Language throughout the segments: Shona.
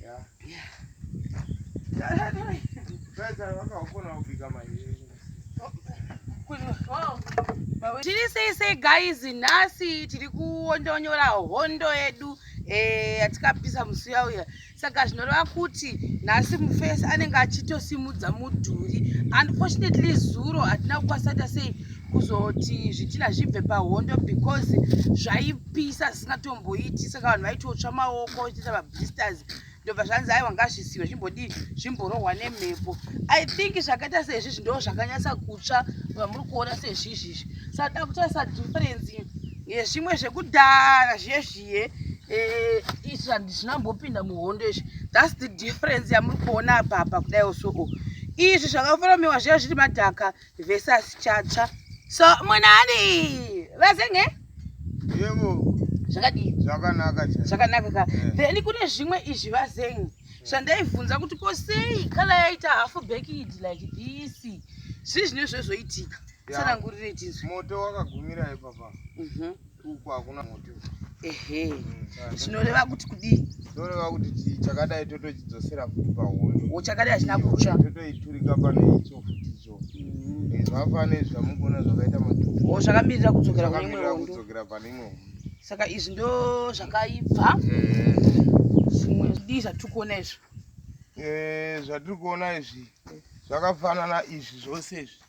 Yeah. Yeah. Tiri sei sei guys, nhasi tiri kuondonyora hondo yedu eh, yatikapisa musi uya uya. Saka zvinoreva kuti nhasi mufesi anenge achitosimudza mudhuri. Unfortunately zuro hatina kukwanisa ta sei kuzoti zvitina zvibve pahondo because zvaipisa tisingatomboiti saka vanhu vaitotsva maoko ichiita mablisters ndobva zvanzi aiwa ngazvisiwe zvimbodii zvimborohwa nemhepo i think zvakaita sezvizvi ndo zvakanyatsa kutsva vamuri kuona sezvizvizvi saka takutarisa difference yezvimwe zvekudhara zviye zviye eh, izvi handizvina mbopinda muhondo izvi thats the difference yamuri kuona apapa kudai osoku izvi zvakaforomeiwa zviya zviri madhaka vese asichatsva so munani vasenge yebo zvakadii zvakanaka zvakanaka ka eh. then kune zvimwe izvi vazengi zvandaibvunza kuti ko sei kala yaita half bakid like this zvii zvine zvezvoitika tsanangurirei tizvi moto wakagumira ipapa mhm. uku hakuna muti ehe zvinoreva kuti kudii zvinoreva kuti chakadai totochidzosera futi pahondo o chakadai hachina kutsva totoiturika pane icho futi icho mm. eh, zvafane zvamukuona zvakaita matutu o zvakamirira kudzokera kune imwe hondo kudzokera pane imwe hondo saka izvi ndo zvakaibva eh. zvimwe zvidii zvatiri kuona izvi eh, zvatiri kuona izvi zvakafanana izvi zvose izvi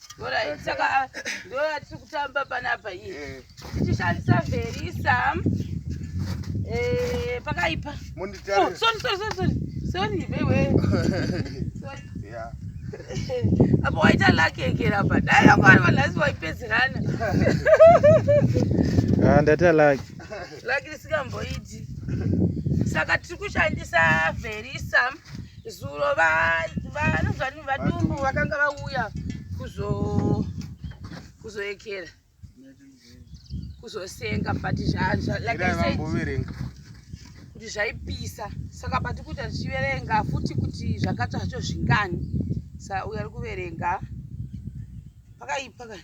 Alright, saka ah, ndo yatiri kutamba panapa iyi Eh, tichishandisa verisa eh, pakaipa Oh, munditarire. sorry, sorry, sorry, sorry. Sorry, vewe. Sorry. Yeah. apa waita laki egera apa dai vanga vari vanhasi waipedzerana Ah, ndaita lucky. laki risingamboiti saka tiri kushandisa verisa Zuro vanhu vadumbu vakanga vauya kuzoekera kuzosenga but kuti zvaipisa saka pati kuti tichiverenga futi kuti zvakatsva zvacho zvingani sa uyo ari kuverenga pakaipa kani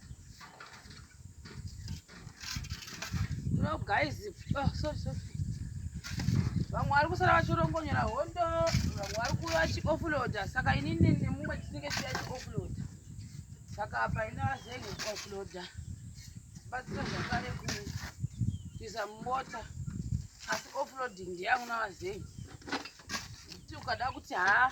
No guys, oh, sorry, sorry. Vamwe vari kusara vachirongonyera hondo, vamwe vari kuva vachioffloader, saka inini nemumwe tinenge tichida chioffloader. Saka apa ina vazenge kuoffloader. Batsira zvakare kuisa mumota, asi offloading ndiyangu navazenge. Kuti ukada kuti haa,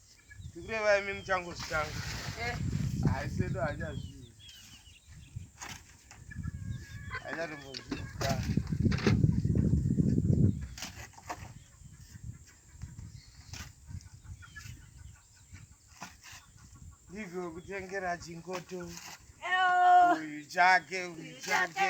Ndikureva imi muchangozvitanga. Eh. Haisi edu hanyazvii. Hanyatombozvita. Ndivyo kutengera chingoto. Uyu chake, uyu chake.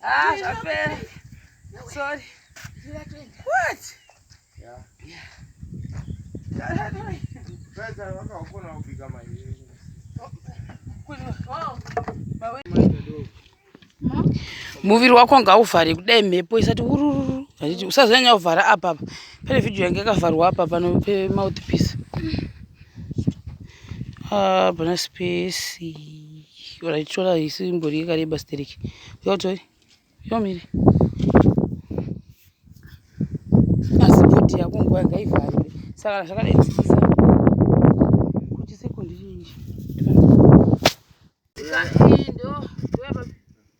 Ah, zvapera. Sorry. What? Yeah. Yeah. Sasa waka ukona upika maji. Muviri wako ngauvhare kudai mhepo isati ururu vachiti usazonyanya kuvhara apa apa pane vhidhiyo yange yakavharwa apa pano pemouthpiece ah, hapana spesi Raitora isi imbori yakareba stereki. Yotoi. Yomiri. Asi bhodhi yako nguva yanga ivharire. Saka zvakadai tisisa. Kuti sekundi chii. Sika ndo.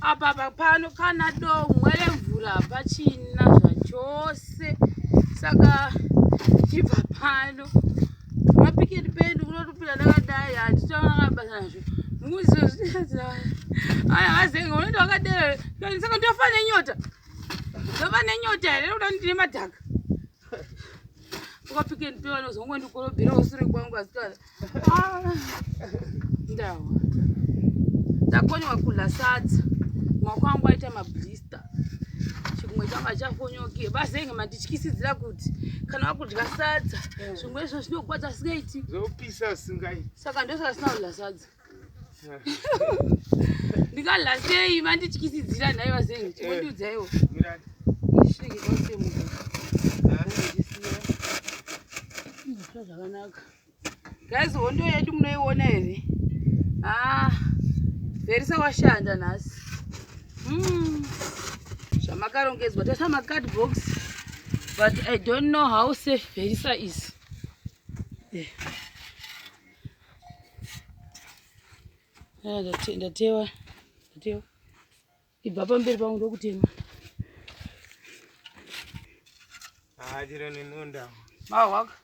apa papano kana domwe remvura hapachina zvachose saka tichibva pano mapiketi pedu kunotopinda ndakadai handitaanabasa nazvo aya vazenga unoita wakadero saka ndofa nenyota ndofa nenyota here kuda ndine madhaka ukapiketi pevanozongondikorobhera usure kwangu asikana ndawa ndakonyewa kudla sadza maoko angu aita mablista chimwe changu achakonyoke vazenge mandityisidzira kuti kana vakudya sadza eh. zvimwe izvo zvinogwadza singaiti zopisa singai saka ndosaka sina kudla sadza eh. ndikadla sei mandityisidzira nhai vazenge eh. chimondiudzaiwo zvakanaka Guys, hondo yedu munoiona here? Ah, Verisa washanda nhasi. Mm. Zvamakarongedzwa tasa ma card box but I don't know how safe Verisa is. Yeah. Ndatewa, ndatewa. Ibva pamberi pangu ndokutema. Ah, chiro nenonda. Mahwaka.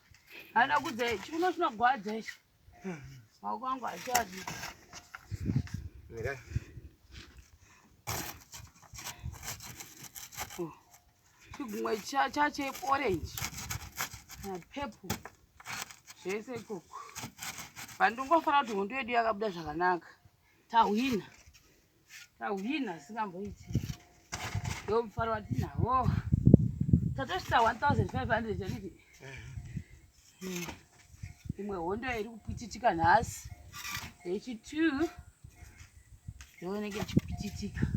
Hana kudze chikuno chinogwadza ichi. Maoko angu achadi. Mira. Oh. Chigumwe chache orange. Na purple. Zvese ikoko. Pandingofanira kuti hondo yedu yakabuda zvakanaka. Tahwina. Tahwina zvisingamboiti. Ndo mufaro watinawo. Tatosvitsa 1500 handiti? Mm. Imwe hondo iri kupititika nhasi. Yechi 2 yooneke ichipititika.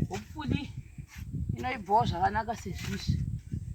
Hopefully inoibvawo zvakanaka sezvizvi.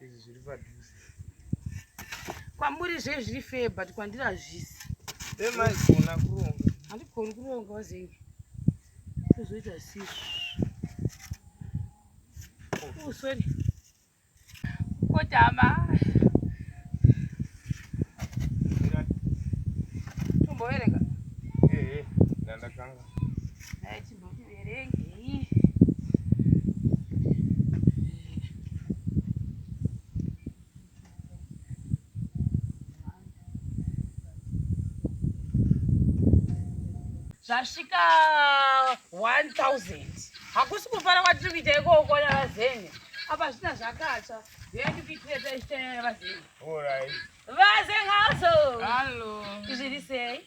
izvi zviri padhuze kwamuri zve zviri fair but kwandiri hazvisi vemaigona kuronga handigoni kuronga wazenge kuzoita sisi oh sorry kotama zvasvika 1000 hakusi kufara kwatiri kuita ikoko navazeni apa zvina zvakatsva veandikuitira taisitayana vazeni Vazenhazo. Hallo. Zviri sei?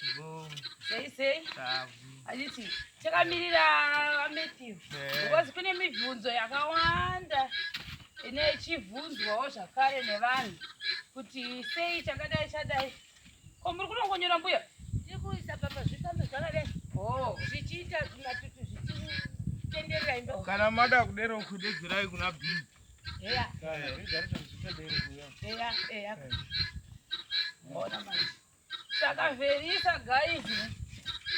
Sei sei? Handiti takamirira vaMatthew because kune mibvunzo yakawanda ine ichibvunzwawo zvakare nevanhu kuti sei chakadai chadai. Ko muri kunongonyora mbuya? Tiri kuisa pamba zvikambe zvakadai. Oh. Zvichiita zvimatutu zvichitenderera imba. Kana mada kudero kudedzerai kuna Bhibi. Eya. Eya, eya. Mbona manje. Saka Verisa guys.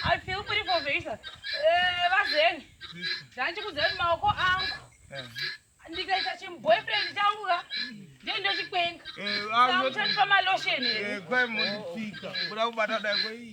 I feel pretty for Verisa. Eh, vazeni. Zvanchi kuzeni maoko angu. Ndikaita chim boyfriend changu ka. Ndiye ndochikwenga. Eh, awu. Samutani pama lotion. Eh, kwai mundipika. Kuda kubata dai kwai.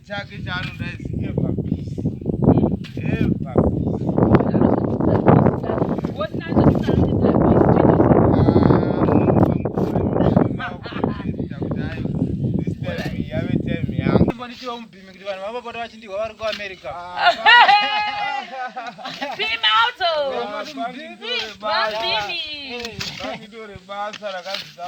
chake chaanoda is ever peace ever ndichiva mubhimi kuti vanhu vavapota vachindihwa vari kuamerica basa rakadzidza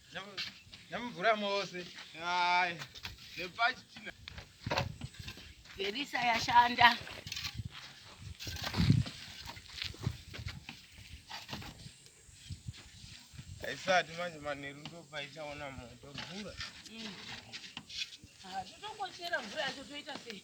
Namvura mose. Hai. Nepachi china. Derisa yashanda. Haisati manje manheru ndopaichaona moto mvura. Mm. Ah, totongochera mvura yacho toita sei?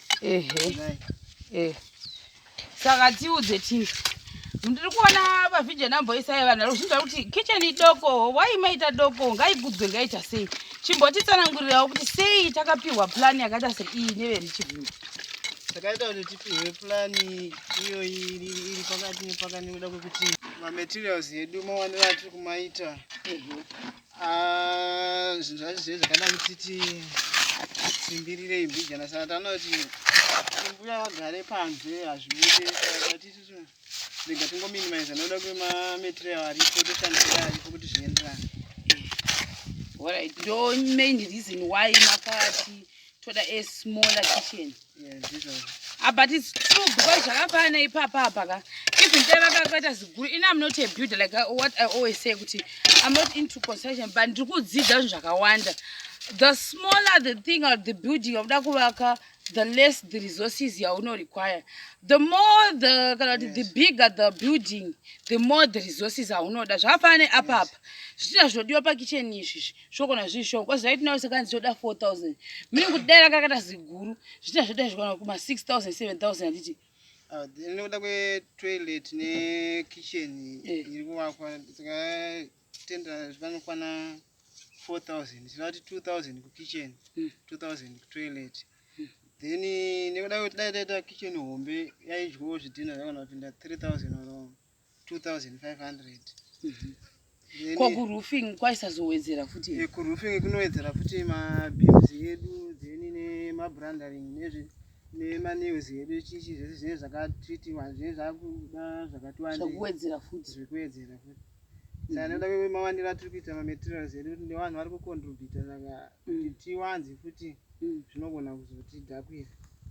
ehe saka tiudze chii ndiri kuona vavhidya namboisai vanhu vari kuzvinzva kuti kitchen idoko wai maita doko ngaigudzwe ngaita sei chimbotitsanangurirawo kuti sei takapiwa plan yakaita seiyi neverichivhini takaita kuti tipihwe plan iyoyi iri pakati nepakati nekuda kwekuti mamaterials edu mawaniro atiri kumaita Ah, zvinhu zvacho zviye zvakada kutiti simbirirei mbijana saka tanoti mbuya vagare panze hazvibude atisu rega tingominimiza noda kuti mamaterial aripo toshandisira aripo kuti zvienderane orit ndo main reason why makati toda a smaller kitchen ah, but its true because zvakafanana ipapa apa ka even dai vakakaita ziguru ini am not a builder like uh, what i always say kuti i'm not into construction but ndiri kudzidza zvinhu zvakawanda the smaller the thing or the building yakuda kuvaka the less the resources yaunorequire the more the kana kuti the bigger the building the more the resources aunoda zvakafanana neapapa zvichina zvinodiwa pakitchen izvizvi shoko nazvii shoko kwazi vaitinawo sekanzi toda 4000 mini kuti dai ranga rakata ziguru zvita zvoda zvikwana kuma 6000 7000 handiti ah, nekuda kwetoilet nekitchen eh. iri kuvakwa saka tenda zvikanokwana 4000 tinoti 2000 kukitchen 2000 hmm. kutoilet hmm. then nekuda kwekuti dai taita kitchen hombe yaidyawo zvidhina zvakana kupinda 3000 or 2500 ko kuroofing kwaisazowedzera futi eh, kuroofing kunowedzera futi mabills edu then nemabrandering nezvi nemanews edu chichi zvese zvinenge zvakatreatiwa zvinenge zvakuda zvakatiwandezvekuwedzera futi zvekuwedzera futi tanoda mhm. mawandiro atiri kuita mamaterials edu kuti nevanhu vari kucontributa saka kuti mm. tiwanze futi mm -hmm. mm. zvinogona kuzotidhakwira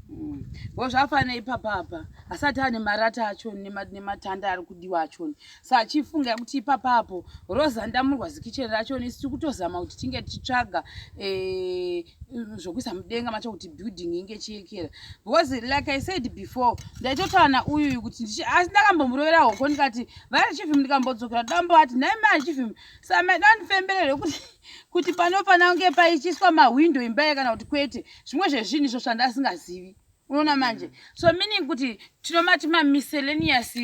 mm. bo zvafanira ipapa apa asati ane marata achoni nematanda ari kudiwa achoni sa achifunga kuti ipapa apo roza ndamurwa zikicheni rachoni isi tiri kutozama kuti tinge tichitsvaga eh, zvokuisa mudenga macho kuti building inge chiyekera because like i said before ndaitotaura na uyuyu kuti asi ndakambomurovera hoko ndikati vari chifim ndikambodzokera dambo ati nhaimai chifim sa maidandifemberere kuti kuti panofanira kunge paichiiswa mahwindo imba ye kana kuti kwete zvimwe zvezvinhu izvo zvanda asingazivi unoona manje so meaning kuti tinomati mamiscellaneous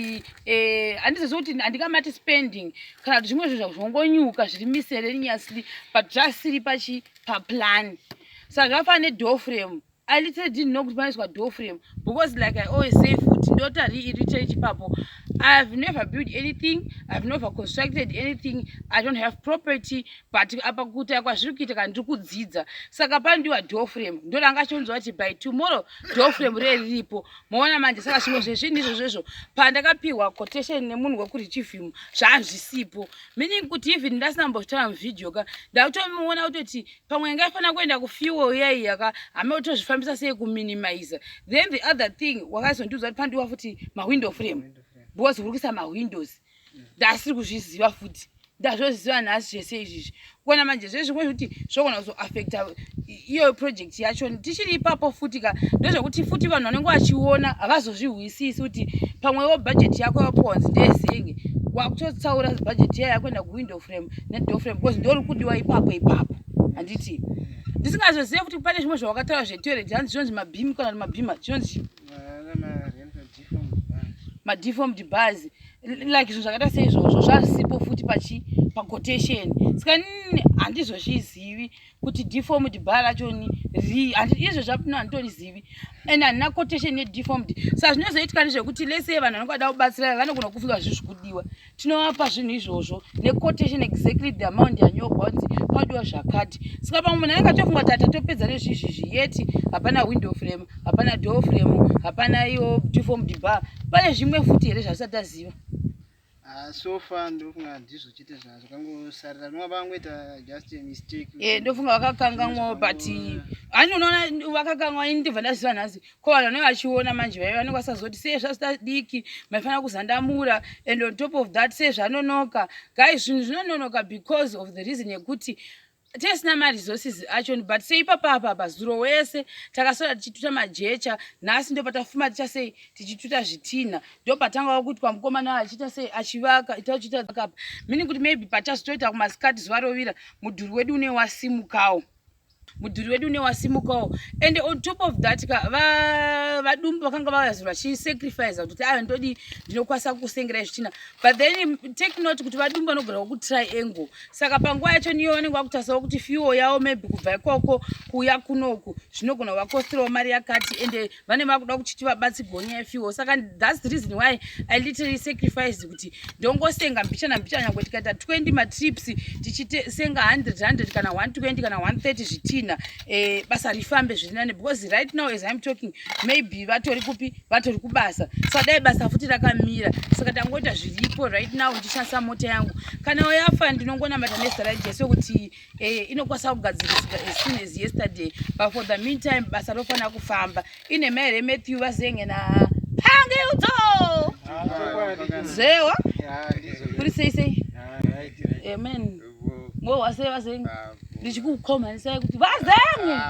eh, handizizi kuti handikamati spending kana kuti zvimwe zvinhu zvongonyuka zviri miscellaneously but zvasiri pachi paplan saka zvafana nedoframe I literally didn't know kuti paiswa door frame because like I always say futi ndota reiterate ipapo I have never built anything I have never constructed anything I don't have property but apa kuita kwazviri kuita kana ndiri kudzidza saka pandiwa door frame ndodanga chonzwa kuti by tomorrow door frame riye riripo moona manje saka zvimwe zvezvinhu izvo zvezvo pandakapiwa quotation nemunhu wekuri chivhimu zvaazvisipo meaning kuti even ndasina mbotaura muvideo ka ndakutomuona kutoti pamwe yanga yafanira kuenda kufuel iya iya ka hame utozvifambisa sei kuminimiza then the other thing wakazondiudza kuti pandiwa futi mawindow frame because uri kuisa mawindows ndasiri kuzviziva futi ndazvoziva nhasi zvese izvizvi kuona manje zvezvimwe zvekuti zvogona kuzoaffecta iyo project yacho tichiri ipapo futi ka ndozvekuti futi vanhu vanenge vachiona havazozvihwisisi kuti pamwewo bhajeti yako yaponzi ndeyesenge wakutotsaura bhajeti iya yakuenda kuwindow frame nedoor frame because ndori kudiwa ipapo ipapo handiti ndisingazozive kuti pane zvimwe zvawakataura zvetoilet hanzi zvinonzi mabhimi kana kuti mabhima chinonzi madeformed bars like zvinhu zvakaita seizvozvo zvazisipo futi pachi paquotation saka handizvozvizivi kuti deformed bar racho ni ri izvo zvapino handitorizivi and handina quotation yedeformed sa zvinozoitika nezvekuti lese vanhu vanenge vada kubatsirana vanogona kufunga zvinhu zvikudiwa tinovapa zvinhu izvozvo nequotation exactly the amount yanyorwa kuti padiwa zvakati saka pamwe munhu anenge atofunga tata topedza nezvizvi zviyeti hapana window frame hapana door frame hapana iyo deformed bar pane zvimwe futi here zvasati aziva Ah, so far ndofunga handizvo chete zvazvo kangosarira rinova vangoita just a mistake eh ndofunga vakakanganwawo but ani unoona vakakanganwa ini ndibva ndaziva nhasi ko vanhu vanenge vachiona manje vaive vanenge vasazoti sei zvazitadiki maifanira kuzandamura and on top of that sei zvanonoka guys zvinhu zvinononoka because of the reason yekuti tesina maresources achoni but seipapa apa apa zuro wese takasora tichituta majecha nhasi ndopatafuma ticha sei tichituta zvitinha ndopatanga wakuitwa mukomana achiita sei achivaka itachiitaapa meaning kuti maybe patazotoita kumasikati zuva rovira mudhuri wedu une wasimukawo mudhuri wedu une wasimukawo and on top of that ka vadumbu vakanga vavazi vachisacrifice kuti ayo ndodii ndinokwanisa kukusengerai zvitina but then take note kuti vadumbu vanogara kutriangle saka panguva yacho niyo vanenge vakutarisawo kuti fiwo yavo maybe kubva ikoko kuuya kunoku zvinogona kuvakostirawo mari yakati ende vane vakuda kuchiti vabatsigwo nyaya yefiwo saka thats the reason why i literally sacrificed kuti ndongosenga mbichana mbichana nyangwe tikaita 20 matrips tichisenga 100 100 kana 120 kana 130 zvitinha eh, basa rifambe zvirinane because right now as im talking maybe vatori kupi vatori kubasa saka dai basa futi rakamira saka tangoita zviripo right now ndichishandisa mota yangu kana wayafa ndinongonamata nezita rajesu kuti eh, inokwanisa kugadziriswa as soon as yesterday but for the meantime basa rofanira kufamba ine mai here matthew vazenge na pangiudzo zewa kuri sei sei amen ngo wase vazengu ndichikukomanisai kuti vazengu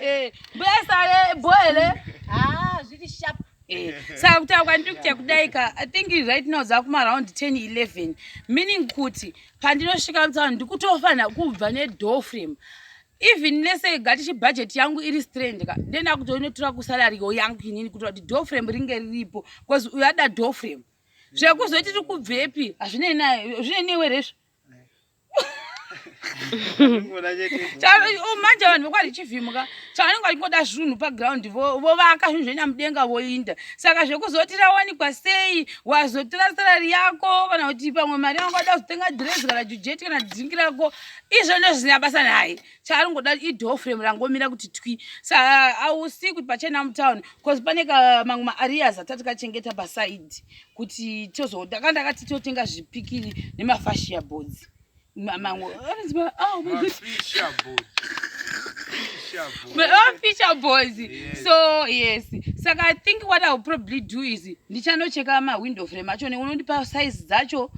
eh, mbuya sale boele ah, zviri sharp eh, saka kutaura kwandiri kutya kudaika i think right now dzakumaraund 10 11 meaning kuti pandinosvika mutsaano ndikutofanira kubva nedoor frame even lese gati chibhajeti yangu iri strand ka ndenda kutoinotora kusalarigo yangu inini kutoa kuti doorframe ringe riripo bcause uyada doorframe zvekuzoti tiri kubvepi hazvinei naye zvinei newe rezvo manje vanhu vokwari chivhimuka chavanenge vachingoda zvinhu paground vovaka zvinhu zvoenda mudenga voinda saka zvekuzoti rawanikwa sei wazotora sarari yako kana kuti pamwe mari yangu ada kuzotenga dress kana jujeti kana dhingi rako izvo ndozvisina basa naye chaari ngoda idoor frame rangomira kuti twi sa ausi kuti pachena mutown bcause pane mamwe maareas atati kachengeta paside kuti tozoda ka ndakati totenga zvipikiri nemafashia boards mamwe oh, fisher boards so yes saka i think what iwill probably do is ndichanocheka mawindow frame acho neunondipa size dzacho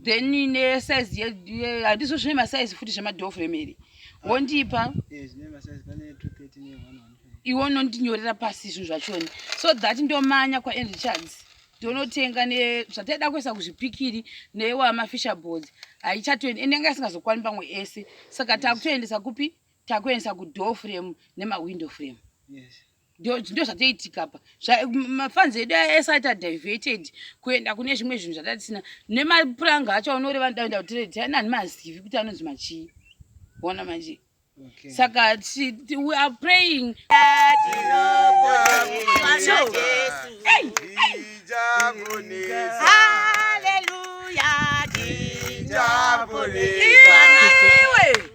then ne size ye handizo zvine ma size futi zvema door frame iri wondipa eh zvine ma size pane 230 ne 100 iwo unondinyorera pasi zvinhu zvachoni so that ndomanya kwa Andrew Charles ndonotenga ne zvataida kuisa kuzvipikiri newa ma fisher boards haichatoendi ende anga isingazokwani pamwe ese saka takutoendesa kupi takuendesa ku door frame nema window frame yes ndio zvatoitika pa mafanzi edu asati adiverted kuenda kune zvimwe zvinhu zvatatisina nemapuranga acho aunoreva ndaenda kutire tiani ani mazivi kuti anonzi machii ona manje saka we are praying Hallelujah,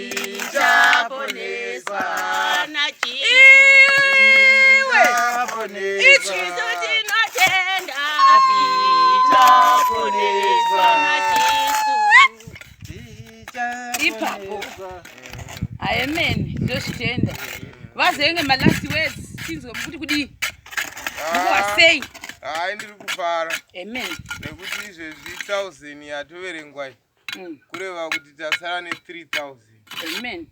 Ndichaponeswa nachiwe Ichizo tinotenda Ndichaponeswa nachisu Ipapo Amen Ndozvitenda Vazenge my last words Chinzwa mukuti kudii Mukuwasei ah. Hai ndiri kufara Amen Nekuti izvezvi 1000 yatoverengwa iyi mm. kureva kuti tasara ne 3000 amen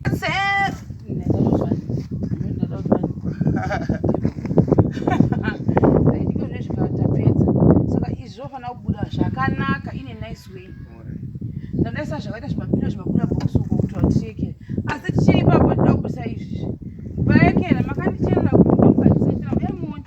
zvofanira kubuda zvakanaka ine nice way ndadaisa zvakaita zvimabira zvimabira bokusuka kuti watieke asi tichiri ipapo tida kubudisa izvi vaekera makandicherera kuti ndokukatisatira uye muone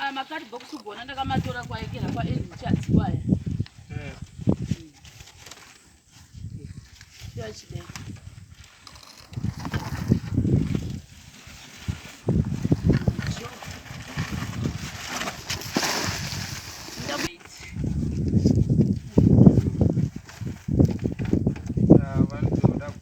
aya makati bhokusugona ndakamatora kwaekera kwaendichadzi kwaya achidai ah, vanotoda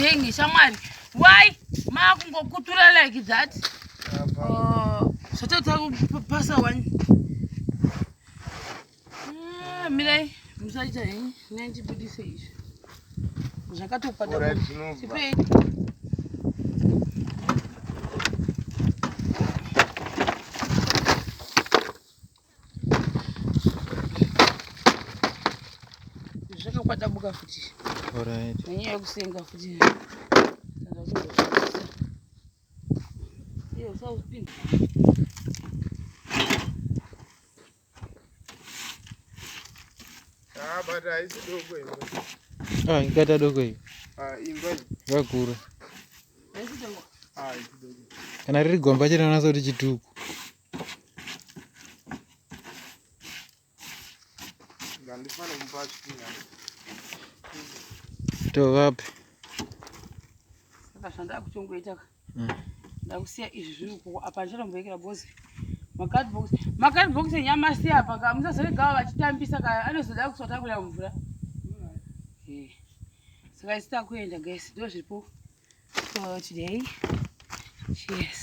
zvengi shamwari why maakungokutura like that uh, zvatoita kupasa wani Ah, mirai musaita henyu nai ndibudise izvi zvakatopadapei zvakakwadabuka futi nenyaya yekusenga futi Ah, ingata doko iyi vakura kana riri gomba chete anasa kuti chituku tovapi ndakusiya izvi zviri kuko apa ndichatomboekera because macardbox macardbox enyamasi apa ka musazoregawa vachitambisa ka anozoda kusvatambura mvura eh, saka isi takuenda guys ndo zviripo for today cheers